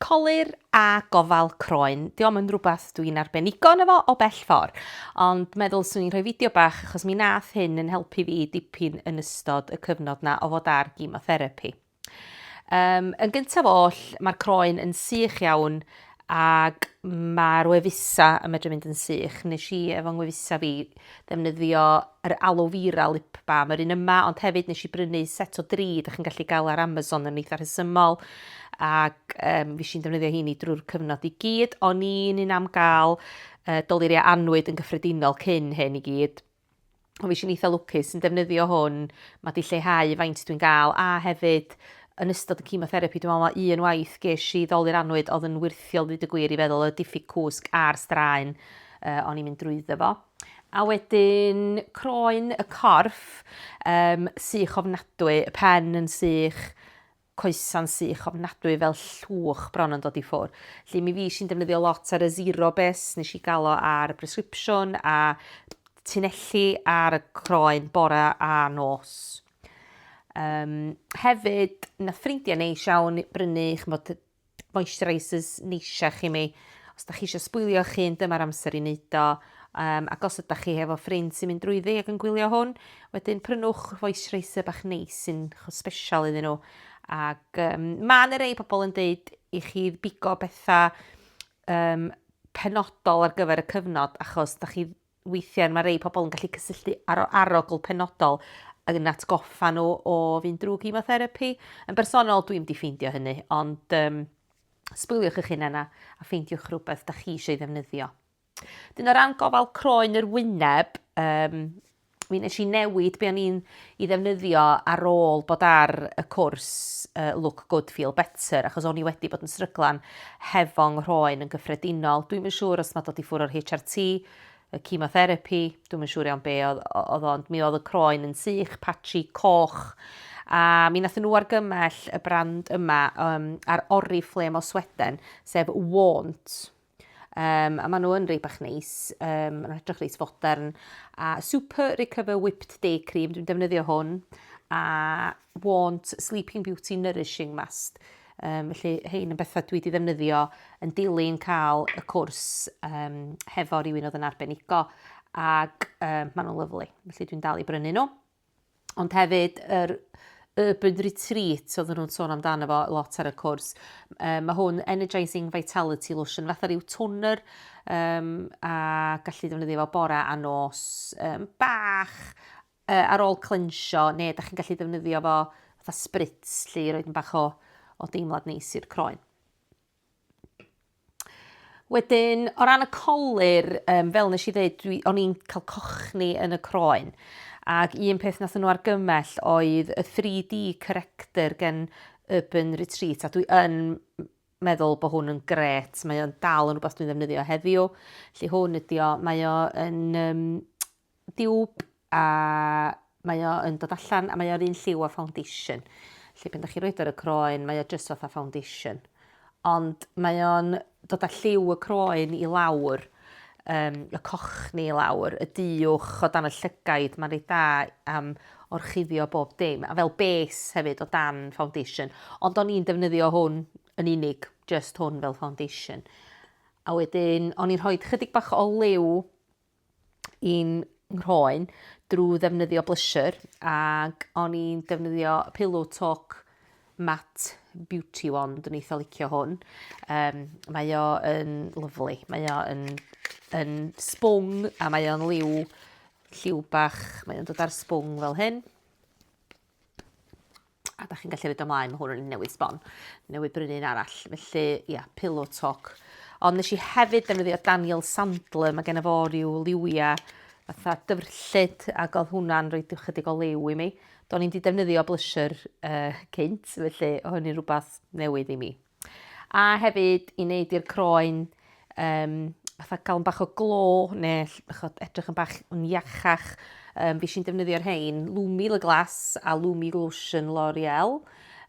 Colur a gofal croen. Diom yn rhywbeth dwi'n arbenigo yno fo o bell ffordd, ond meddwl swn i'n rhoi fideo bach achos mi nath hyn yn helpu fi dipyn yn ystod y cyfnod na o fod ar gemotherapi. Um, yn gyntaf oll, mae'r croen yn sych iawn ac mae'r wefusa yn medru mynd yn sych. Nes i efo ngwefusa fi ddefnyddio yr aloe vera lip balm, yr un yma, ond hefyd nes i brynu set o dri, dych chi'n gallu gael ar Amazon yn eitha rhesymol, ac um, fi sy'n defnyddio hini drwy'r cyfnod i gyd, o'n i'n un am gael uh, doluriau anwyd yn gyffredinol cyn hyn i gyd, o fi sy'n eitha lwcus yn defnyddio hwn, mae di lleihau faint dwi'n gael, a hefyd yn ystod y chemotherapy, dwi'n meddwl mae un waith ges i ddoli'r anwyd oedd yn wirthiol fyd y gwir i feddwl y diffyg cwsg a'r straen uh, o'n i'n mynd drwyddo fo. A wedyn croen y corff um, sych ofnadwy, y pen yn sych, coesa'n sych ofnadwy fel llwch bron yn dod i ffwr. Lly mi fi sy'n defnyddio lot ar y zero base, nes i gael o ar y prescripsiwn a tunelli ar y croen bore a nos. Um, hefyd, na ffrindiau neis iawn brynu chymod, moisturisers neisiach i mi. Os da chi eisiau sbwylio'ch hun, dyma'r amser i wneud o. Um, ac os ydych chi hefo ffrind sy'n mynd drwyddi ac yn gwylio hwn, wedyn prynwch moisturiser bach neis sy'n special iddyn nhw. Ac um, mae yna rei pobl yn dweud i chi bigo bethau um, penodol ar gyfer y cyfnod achos da chi Weithiau mae rhai pobl yn gallu cysylltu ar arogl penodol ac yn atgoffa nhw o fynd drwy gemotherapi. Yn bersonol, dwi'n di ffeindio hynny, ond um, sbwyliwch eich hunain a, a ffeindiwch rhywbeth da chi eisiau ddefnyddio. Dyn o ran gofal croen yr wyneb, um, mi nes i newid be o'n i'n i ddefnyddio ar ôl bod ar y cwrs Look Good Feel Better achos o'n i wedi bod yn sryglan hefo nghroen yn gyffredinol. Dwi'm yn siŵr os ma' dod i ffwr' o'r HRT, y chemotherapi, dwi'm yn siŵr iawn be' o'dd o'dd o ond mi o'dd y croen yn sych, patchy, coch a mi nathon nhw argymell y brand yma um, ar Oriflame o Sweden sef Warnt. Um, a maen nhw yn rei bach neis, um, maen nhw'n edrych reis fodern. A Super Recover Whipped Day Cream, dwi'n defnyddio hwn. A Want Sleeping Beauty Nourishing Mask. Um, felly, hein yn bethau dwi wedi ddefnyddio yn dilyn cael y cwrs um, hefo rhywun oedd yn arbenigo ac um, maen nhw'n lyflu. Felly dwi'n dal i brynu nhw. Ond hefyd yr urban retreat oedden nhw'n sôn amdano fo lot ar y cwrs. Um, mae hwn Energizing Vitality Lotion, fatha rhyw toner um, a gallu defnyddio fo bore a nos um, bach uh, ar ôl clensio, neu da chi'n gallu defnyddio fo fatha spritz lle i roed yn bach o, o deimlad neis i'r croen. Wedyn, o ran y colur, um, fel nes i ddeud, dwi, o'n i'n cael cochni yn y croen. Ac un peth nath nhw argymell oedd y 3D corrector gen Urban Retreat, a dwi yn meddwl bod hwn yn gret. Mae o'n dal yn rhywbeth dwi'n ddefnyddio heddiw. Lly hwn ydi o, mae o yn um, diwb a mae o yn dod allan a mae o'r un lliw â foundation. Felly pan 'dach chi'n roid o ar y croen mae o jyst fatha foundation. Ond mae o'n dod â lliw y croen i lawr, um, y cochni i lawr, y diwch o dan y llygaid, mae'n reit da am orchuddio bob dim, a fel base hefyd o dan foundation. Ond o'n i'n defnyddio hwn yn unig, just hwn fel foundation. A wedyn, o'n i'n rhoi chydig bach o liw i'n nghroen drwy ddefnyddio blusher ac o'n i'n defnyddio Pillow Talk Matte Beauty Wand, dwi'n eitha licio hwn. Um, mae o yn lyflu, mae o yn, yn sbwng a mae o'n liw, lliw bach, mae o'n dod ar sbwng fel hyn. A da chi'n gallu rhoi ymlaen, mae hwn yn newid sbon, newid brynu un arall. Felly, ia, pillow talk. Ond nes i hefyd defnyddio Daniel Sandler, mae gen i fo rhyw liwia fatha dyfrllyd ac oedd hwnna'n rhoi chydig o liw i mi. Do'n i'n di defnyddio blusher uh, cynt, felly oedd hynny'n rhywbeth newydd i mi. A hefyd i wneud i'r croen um, fatha gael yn bach o glo neu chod, edrych yn bach yn iachach. Um, fi sy'n defnyddio'r rhain, Lumi Le Glas a Lumi Lotion L'Oreal.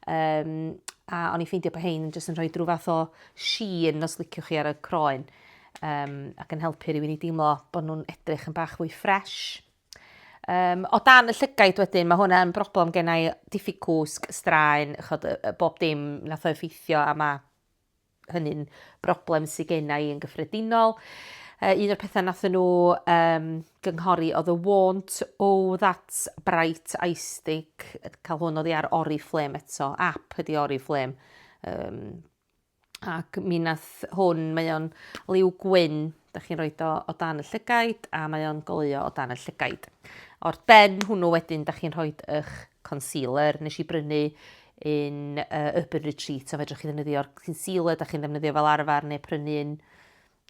Um, a o'n i'n ffeindio bod hein yn jyst yn rhoi drwy fath o sheen os liciwch chi ar y croen um, ac yn helpu rhywun i deimlo bod nhw'n edrych yn bach fwy ffres. Um, o dan y llygaid wedyn, mae hwnna yn broblem gennau diffyg cwsg, straen, chod, bob dim nath o effeithio a mae hynny'n broblem sydd gennau yn gyffredinol. Uh, un o'r pethau nath nhw um, gynghori oedd y want o that bright iStick, cael hwn oedd ar Oriflame eto, app ydi Oriflame, um, ac mi nath hwn, mae o'n liw gwyn, da chi'n rhoi o o dan y llygaid a mae o'n goleuo o dan y llygaid. O'r ben hwnnw wedyn, da chi'n rhoi eich concealer. Nes i brynu un uh, Urban Retreat, so fedrwch chi ddefnyddio'r concealer da chi'n ddefnyddio fel arfer neu prynu un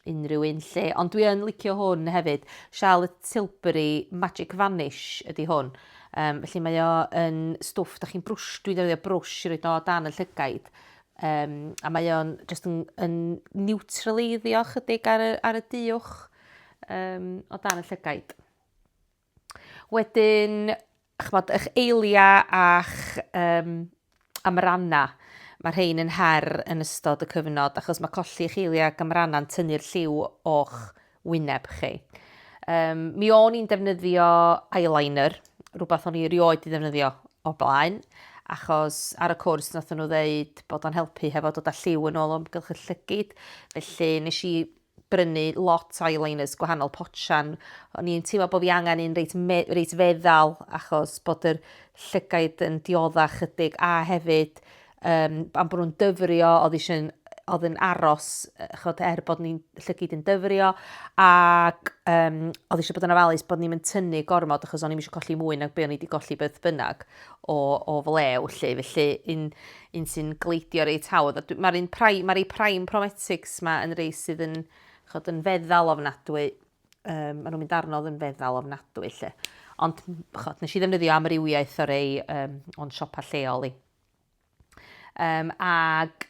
Unrhyw un 'lly. Ond dwi yn licio hwn hefyd. Charlotte Tilbury Magic Vanish ydy hwn. Um, felly mae o yn stwff, da chi'n brwsh, dwi'n defnyddio brwsh i roed o dan y llygaid. Um, a mae o'n just yn, yn neutraleiddio chydig ar y, ar y diwch um, o dan y llygaid. Wedyn, chymod, eich eiliau a'ch um, amrannau, mae rhain yn her yn ystod y cyfnod, achos mae colli eich eiliau ac amrannau yn tynnu'r lliw o'ch wyneb chi. Um, mi o'n i'n defnyddio eyeliner, rhywbeth o'n i erioed i ddefnyddio o blaen, achos ar y cwrs nath nhw ddeud bod o'n helpu hefo dod â lliw yn ôl o'm gylch y llygyd, felly nes i brynu lot o eyeliners gwahanol potsian. O'n i'n teimlo bod fi angen un reit, reit feddal achos bod yr llygaid yn diodda chydig a hefyd um, am bod nhw'n dyfrio, oedd eisiau oedd yn aros, chod, er bod ni'n llygyd yn dyfrio, ac um, oedd eisiau bod yn ofalus bod ni'n mynd tynnu gormod, achos o'n i'n eisiau colli mwy nag be o'n i wedi golli beth bynnag. o o flew 'lly felly un un sy'n gleidio reit hawdd a dwi ma'r un pry- ma' rei prime prometics 'ma yn rei sydd yn ch'od yn feddal ofnadwy yym ma' nw'n mynd arno o'dd yn feddal ofnadwy 'lly. Ond m- ch'od nesh i ddefnyddio amrywiaeth o rei yym o'n siopa lleol i. Yym ag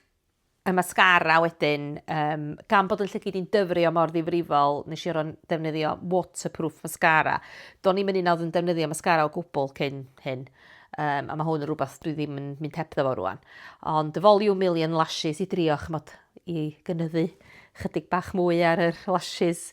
y mascara wedyn, um, gan bod yn llygid i'n dyfrio mor ddifrifol, nes i ro'n defnyddio waterproof mascara. Do'n i'n mynd i'n yn defnyddio mascara o gwbl cyn hyn, um, a mae hwn yn rhywbeth dwi ddim yn mynd hebddo fo rwan. Ond y Volume Million Lashes i drio chymod i gynyddu chydig bach mwy ar yr lashes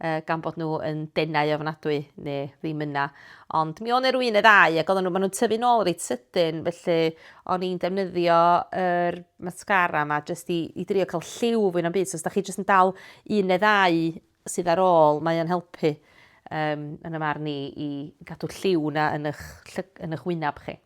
uh, gan bod nhw yn denau ofnadwy neu ddim yna. Ond mi o'n erwyn y ddau ac oedden nhw, maen nhw'n tyfu nôl reit sydyn, felly o'n i'n defnyddio yr mascara yma jyst i, i drio cael lliw fwy na'm byd. So os da chi jyst yn dal un neu ddau sydd ar ôl, mae o'n helpu um, yn y marn i i gadw lliw na yn eich, yn eich wyneb chi.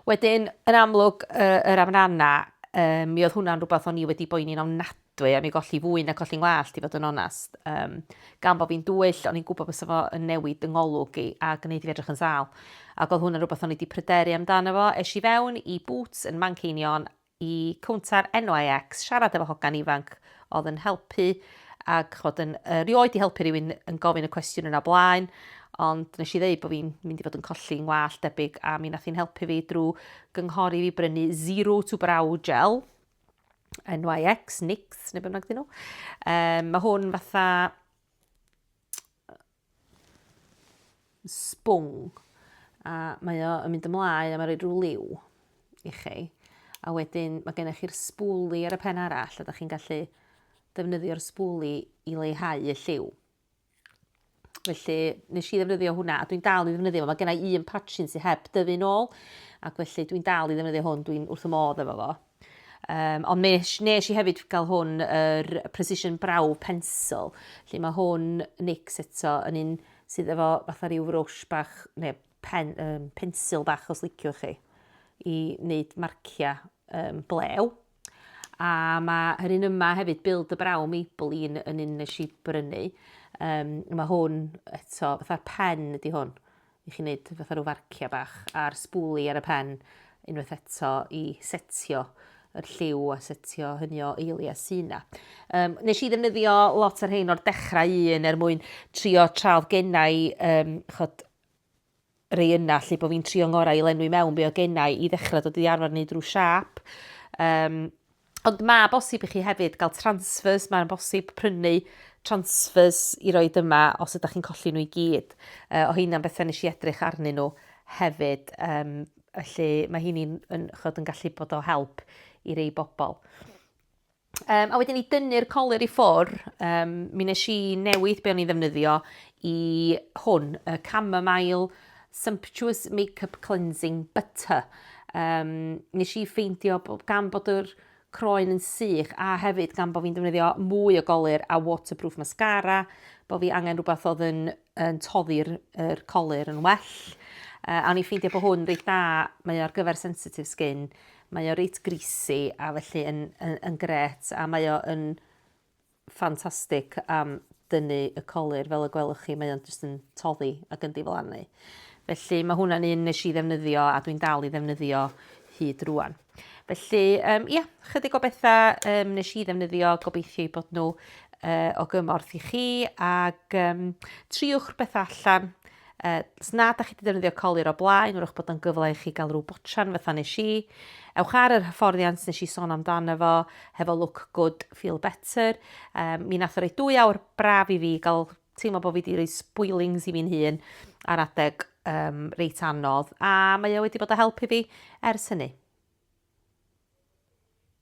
Wedyn, yn amlwg, yr amrannau, um, mi oedd hwnna'n rhywbeth o'n i wedi boeni'n ofnadwy Dwi am ei golli fwy na colli 'ngwallt i fod yn onest. Yym, gan bo' fi'n dwyll, o'n i'n gwbod bysa fo yn newid 'y ngolwg i a gneud i fi edrych yn sâl. Ac o'dd hwn yn rwbeth o'n i 'di pryderu amdano fo. Esh i fewn i Boots yn Manceinion, i cownter NYX, siarad efo hogan ifanc o'dd yn helpu ag ch'mod yn erioed 'di helpu rywun yn gofyn y cwestiwn yna o blaen, ond nesh i ddeud bo' fi'n mynd i fod yn colli 'ngwallt debyg a mi nath hi'n helpu fi drw gynghori fi brynu Zero to Brow Gel, NYX, NYX, neu beth bynnag dyn nhw. Um, mae hwn fatha sbwng a mae o yn mynd ymlaen a mae'n rhoi rhyw liw i chi. A wedyn mae gennych chi'r sbwli ar y pen arall a da chi'n gallu defnyddio'r sbwli i leihau y lliw. Felly, nes i ddefnyddio hwnna, a dwi'n dal i ddefnyddio fo. Mae gennau un patchin sy'n heb dyfu'n ôl, ac felly dwi'n dal i ddefnyddio hwn, dwi'n wrth y modd efo fo. Um, ond nes, nes i hefyd gael hwn, yr er Precision Brow Pencil, lle mae hwn nix eto yn un sydd efo fatha rhyw frwsh bach, neu pen, um, pensil bach os liciwch chi, i wneud marciau um, blew. A mae yr un yma hefyd, Build the Brow Maybelline yn un nes i brynu. Um, mae hwn eto, fatha'r pen ydy hwn, i chi wneud fatha rhyw farciau bach, a'r sbwli ar y pen unwaith eto i setio yr lliw a setio hynny o eili a syna. Um, nes i ddefnyddio lot o'r rhain o'r dechrau un er mwyn trio traf gennau um, chod, rei yna 'lly, bod fi'n trio ngorau i lenwi mewn be o gennau i ddechrau dod i arfer wneud rhyw siâp. Um, ond mae bosib i chi hefyd gael transfers, mae'n bosib prynu transfers i roi dyma os ydych chi'n colli nhw i gyd. Uh, o hynna'n bethau nes i edrych arnyn nhw hefyd. Um, felly mae hynny'n yn, yn gallu bod o help i rei bobl. Um, a wedyn i dynnu'r coler i ffwr, um, mi nes i newid be o'n i'n ddefnyddio i hwn, y Chamomile Sumptuous Makeup Cleansing Butter. Um, nes i ffeindio gan bod yr croen yn sych a hefyd gan bod fi'n defnyddio mwy o golir a waterproof mascara, bod fi angen rhywbeth oedd yn, yn toddi'r er colir yn well. Uh, a o'n i'n ffeindio bod hwn reit dda, mae ar gyfer sensitif skin, mae o reit greasy a felly yn, yn, yn gret a mae o yn ffantastig am dynnu y colir fel y gwelwch chi, mae o'n jyst yn toddi ac yn diflannu. Felly mae hwnna'n un nes i ddefnyddio a dwi'n dal i ddefnyddio hyd rwan. Felly, um, ia, chydig o bethau um, nes i ddefnyddio, gobeithio i bod nhw uh, o gymorth i chi, ac um, triwch bethau allan, Os nad ydych chi wedi defnyddio colur o blaen, wrwch bod o'n gyfle i chi gael rhyw botran fatha nes i. Ewch ar yr hyfforddiant nes i sôn amdano fo, hefo look good, feel better. Um, mi nath o roi dwy awr braf i fi gael teimlo bod fi wedi rhoi spoilings i fi'n hun ar adeg um, reit anodd, a mae o wedi bod o helpu fi ers hynny.